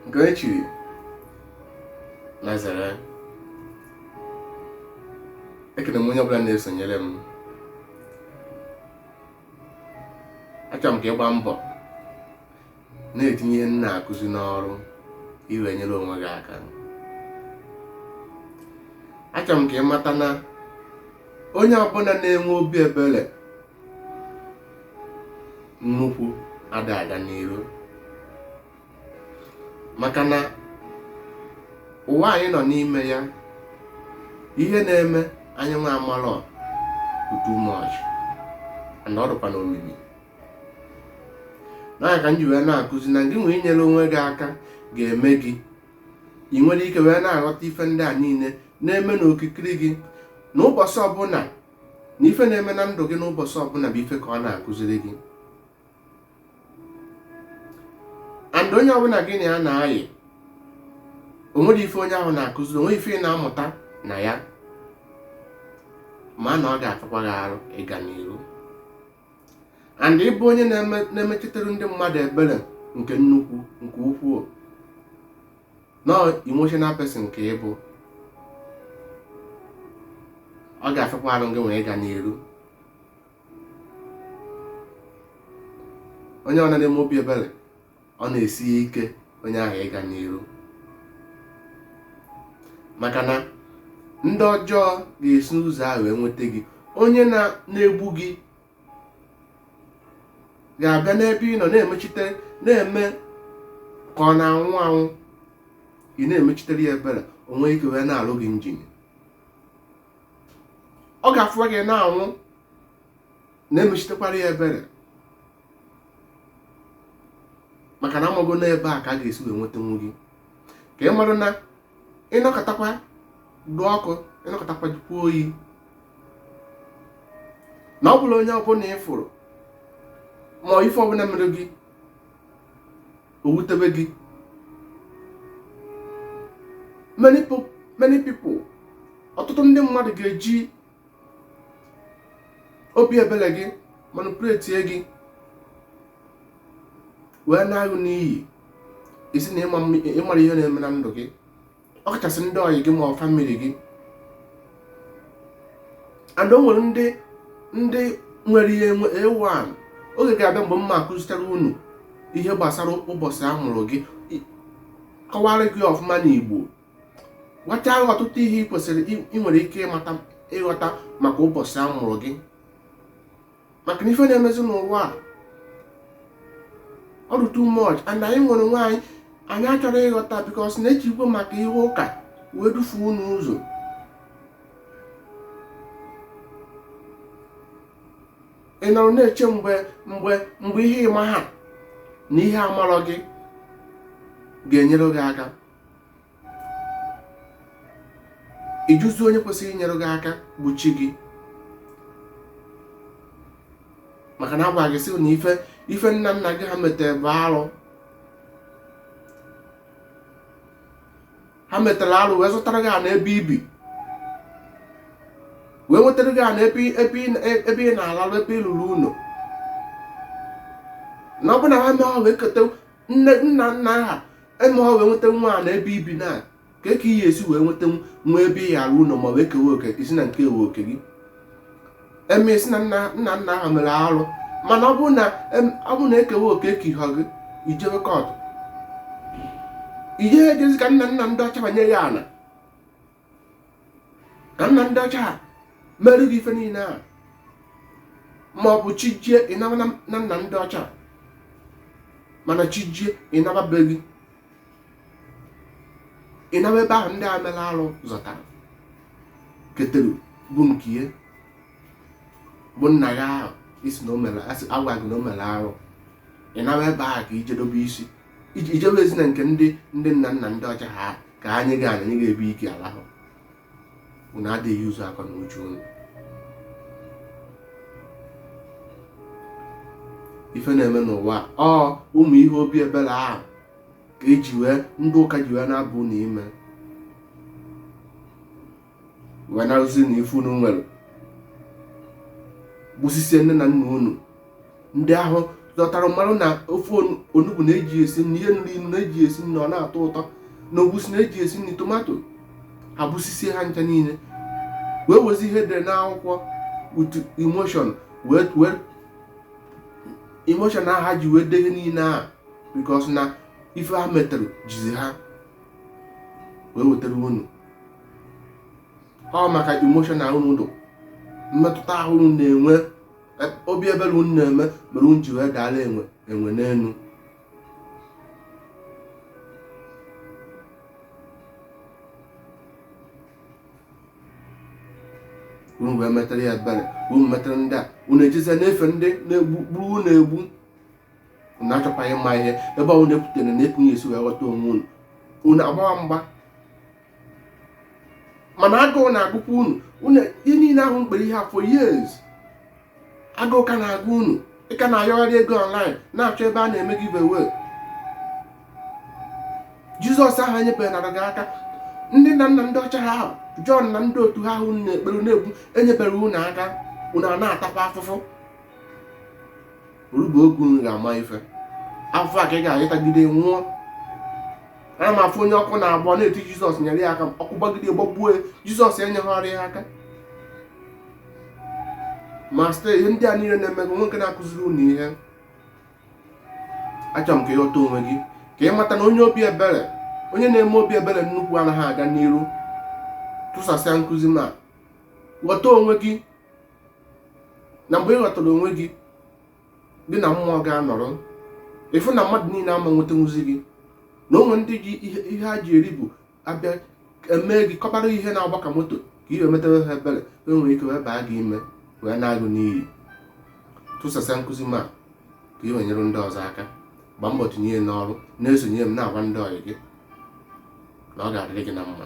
nke e chiri Nazareth ekene m onye ọbụla na-esonyere m achọrọ m ka ị gba mbọ na-etinye ihe m na-akụzi n'ọrụ i wee nyere onwe gị aka achọrọ m ka ị mata na onye ọbụla na-enwe obi ebere nnukwu ada aga n'iru maka na ụwa anyị nọ n'ime ya ihe na-eme anyị nwa amalọ too much and ọ dịkwa n'omimi na ya ka m ji wee na-akụzi na gị nwa inyere onwe gị aka ga-eme gị ị nwere ike wee na-aghọta ife ndị a niile na-eme n'okirikiri gị na ụbọchị ọbụla na ife na-eme na ndụ gị n'ụbọchị ọbụla bụ ife ka ọ na-akụziri gị and onye ọbụla gị na ya na-ayị o nwere ife onye ahụ na-akụziri o nwere ife ị na-amụta na ya ma na ọ ga-afịakwa gị arụ ịga n'iru and ị bụ onye na-emechitere ndị mmadụ ebere nke nnukwu nke ukwuu na emotional person ka ị bụ ọ ga-afịakwa arụ gị nwa ịga n'iru onye ọ na-eme obi ebere ọ na-esi ike onye ahụ ịga n'iru maka na ndị ọjọọ ga-esi n'ụzọ ahụ wee nweta gị onye na-egbu gị ga-abịa n'ebe ị nọ na-emechite na-eme ka ọ na-anwụ anwụ ị na-emechitere ya ebere o nwee ike wee na-alụ gị njin ọ ga-afụwa gị na-anwụ na-emechitekwara ya ebere maka na a mago na ebe a ka a ga-esi wee nwetanwu gị ka ị mara na ị nọkatakwa dụ ọkụ ị nọkatakwa dịkwa oyi na ọ bụlọ onye ọbụla ị fụrụ ma ife ọbụla mere gị o wutebe gị many people ọtụtụ ndị mmadụ ga-eji obi ebere gị manipulate gị wee na-aghụ n'iyi isi na ịmara ihe na-eme na ndụ gị ọkachasị ndị ọyị gị ma family gị and o nwere ndị ndị nwere ihe enwe ewan oge ga-abịa mgbe m ma-akụzichara unu ihe gbasara ụbọchị a mụrụ gị kọwara gị ọfụma n'Igbo gwacha ọtụtụ ihe ị kwesịrị ị nwere ike ịmata ịghọta maka ụbọchị a mụrụ gị maka na ife na-emezi n'ụwa a ọ dị too much and anyị nwere onwe anyị anyị achọrọ ịghọta because na ejikwa maka ihe ụka wee dufuo unu ụzọ ị nọrọ na-eche mgbe mgbe mgbe ihe ị maha na ihe amarọ gị ga-enyere gị aka ị jụzi onye kwesịrị inyere gị aka bụ chi gị maka na a gwa gị sị na ife ife nna nna gị ha metere bụ arụ ha metere arụ wee zụtara gị ana ebe i bi wee nwetara gị ana ebe ị na-alarụ ebe ị rụrụ ụlọ na ọ bụ na ha mee ha wee keta nna nna nna ha eme ọ wee nweta nwa ana ebe i bi na ka ka ihe esi wee nweta nwa ebe ị ghara ụlọ ma wee kewe oke ị sị na ekewe oke gị eme ị sị na nna nna nna ha mere arụ mana ọ bụrụ na ọ bụrụ na ekewe oke ka ihe gị i jewe kọtụ i jee ejezi ka nna nna ndị ọcha banye ya ala ka nna ndị ọcha ha merụ gị ife niile a ma ọ bụ chi jie ị naba na nna ndị ọcha mana chi jie ị naba be gị ị naba ebe ahụ ndị a mere arụ zọtara ketere bụ nke ya bụ nna ya ahụ ị sị na o mere a sị a gwa gị na o mere arụ ị naba ebe ahụ ka i jee dobe isi i jewezi na nke ndị ndị nna nna ndị ọcha ha ka ya ga-enye gị ebe ị ga-alahụ unu adịghị use akọ na uche unu ife na-eme n'ụwa ọ ụmụ ihe obi ebere ahụ ka eji wee ndị ụka ji wee na-aba unu ime wee narụzi unu ife unu nwere gbusisie nne na nna unu ndị ahụ ghọtara marụ na ofe onugbu na-eji esi nri ihe na-elu inu na-eji esi nri ọ na-atọ ụtọ na egusi na-eji esi nri tomato ha gbusisie ha ncha niile wee wezi ihe e dere n'akwụkwọ with emotion wee wee emotion ahụ ha ji wee dee ihe niile ahụ because na ife ha metere jizi ha wee wetara unu ọ maka emotional unu dụ mmetụta ahụ unu na-enwe e- obi ebere unu na-eme mere unu ji wee daala enwe enwe n'elu unu wee metara ya ebere unu metara ndị a unu ejezie na-efe ndị na-egbu gburu unu egbu unu achọkwaghị ịma ihe ebe ọ na-ekwutere na ekwughị esi wee ghọta onwe unu unu agbawa mgba mana agụụ na-agụkwa unu ihe niile ahụ unu kpere ihe for years agụụ ka na-agụ unu ị ka na-ayọgharị ego online na-achọ ebe a na-eme giveaway jizọs ahụ enyebeghịrị gị aka ndị nna nna ndị ọcha ha ahụ jọn na ndị otu ha ahụ na-ekpere na-egbu enyeberọ unu aka unu a na-atakwa afụfụ orugo oge unu ga-ama ife afụfụ a ka ị ga-atagide nwụọ ana m afụ onye ọkụ na-agba na-eti jizọs nyere ya aka ọkụ gbagide gbagbuo ya jizọs enyeghịrị ya aka ma site ihe ndị a niile na-eme m ji wee na-akụziri unu ihe achọrọ m ka ị ghọta onwe gị ka ị mata na onye obi ebere onye na-eme obi ebere nnukwu anaghị aga n'iru tụsasịa nkụzi m a ghọta onwe gị na mgbe ị ghọtara onwe gị gị na mmụọ ga-anọrọ ị fụ na mmadụ niile ama nwetanwuzi gị na o nwe ndị ji ihe ha ji eri bụ a bịa emee gị kọbara ihe na-agba ka moto ka ị wee metewe ha ebere e nwere ike wee baa gị ime wee naa gị n'iyi tụsasịa nkụzi m a ka ị wee nyere ndị ọzọ aka gbaa mbọ tinye n'ọrụ na-esonye m na-agwa ndị ọyị gị na ọ ga-adịrị gị na mma